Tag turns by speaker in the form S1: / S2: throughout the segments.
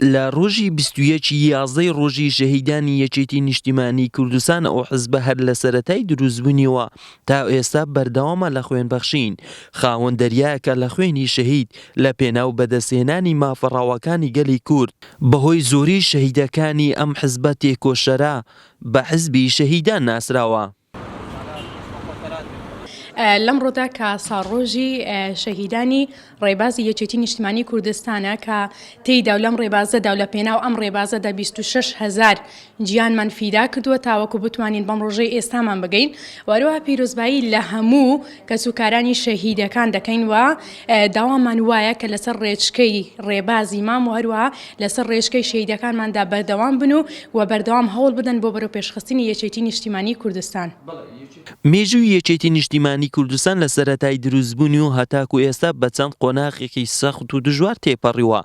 S1: لە ڕۆژی بیست و یەک ی یازدەی ڕۆژی شەهیدانی یەکێتی نیشتیمانی کوردستان ئەو حزبە هەر لە سەرەتای دروستبونیەوە تا ئێستا بەردەوامە لە خوێن بەخشین خاوەن دەریایەکە لە خوێنی شەهید لە پێناو بەدەستهێنانی مافە ڕەواکانی گەلی کورد بەهۆی زۆری شەهیدەکانی ئەم حزبە تێکۆشەرە بە حزبی شەهیدان ناسراوە.
S2: لەمڕۆدا کە ساڵڕۆژی شەهیدانی ڕێبازی یەکێتی نیشتمانی کوردستانە کە تێیدا و لەم ڕێبازەدا و لە پێناو ئەم ڕێبازەدا 26 هزار گیانمان فیدا کردووە تاوەکو بتوانین بەم ڕۆژەی ئێستامان بگەین وەروها پیرۆزبایی لە هەموو کەسوکارانی شەهیدەکان دەکەین و داوامان وایە کە لەسەر ڕێچکەی ڕێبازی مام و هەروەها لەسەر ڕێچکەی شەهیدەکانماندا بەردەوام بن و و بەردەوام هەوڵ بدەن بۆ بەرەو پێشخستنی یەکێتی نیشتیمانی کوردستان. مێژووی
S1: یەکێتی نیشتیمانی کوردستان لە سەرەتای دروستبوونی و هەتاکو ئێستا بە چەند قۆناغێکی سەخت و دژوار تێپەڕیوە،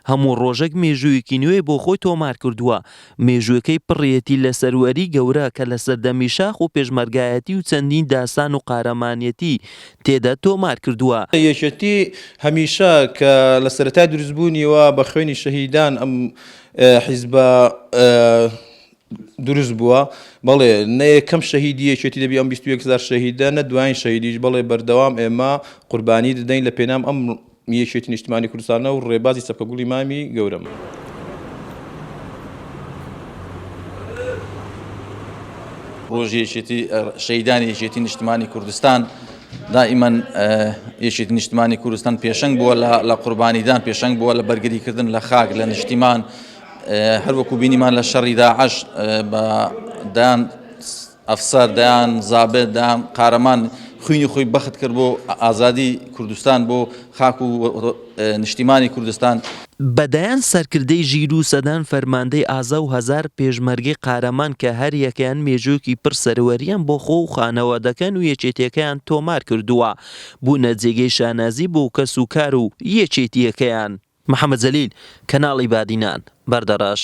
S1: هەموو ڕۆژەک مێژوویەکی نوێی بۆ خۆی تۆمار کردووە، مێژووەکەی پڕیەتی لە سەروەری گەورە کە لە سەردەمی شاخ و پێشمەرگایەتی و چەندین داستان و قارەمانێتی تێدا تۆمار کردووە. یەکێتی
S3: هەمیشە کە لە سەرەتای دروست بوونیەوە بە خوێنی شەهیدان ئەم حیزبە دروست بووە، بەڵێ نە یەکەم شەهیدی یەکێتی دەبی ئەم بیست و یەک هەزار شەهیدە نە دوایین شەهیدیش بەڵێ بەردەوام ئێمە قوربانی دەدەین لە پێنام ئەم یەکێتی نیشتمانی کوردستانە و ڕێبازی چەپکە گوڵی مامی گەورەم.
S4: ڕۆژی یەکێتی شەیدانی یەکێتی نیشتمانی کوردستان دائیمەن یەکێتی نیشتمانی کوردستان پێشنگ بووە لە قوربانیدان پێشنگ بووە لە بەرگریکردن لە خاک لە نیشتیمان هەروەکو بینیمان لە شەڕیدا عش بە دان ئەفسەر دەیان زابێت دەیان قارەمان خوینی خۆی بەخت کرد بۆ ئازادی کوردستان بۆ خاک و نیشتیمانی کوردستان. بە دەیان
S1: سەرکردەی ژیر و سەدان فەرماندەی ئازا و هەزار پێشمەرگەی قارەمان کە هەر یەکەیان مێژوویەکی پڕ سەروەرییان بۆ خۆ و خانەوادەکان و یەکێتیەکەیان تۆمار کردووە بوونە جێگەی شانازی بۆ کەس و کار و یەکێتیەکەیان. محەمەد جەلیل، کەناڵی بادینان، بەردەڕەش.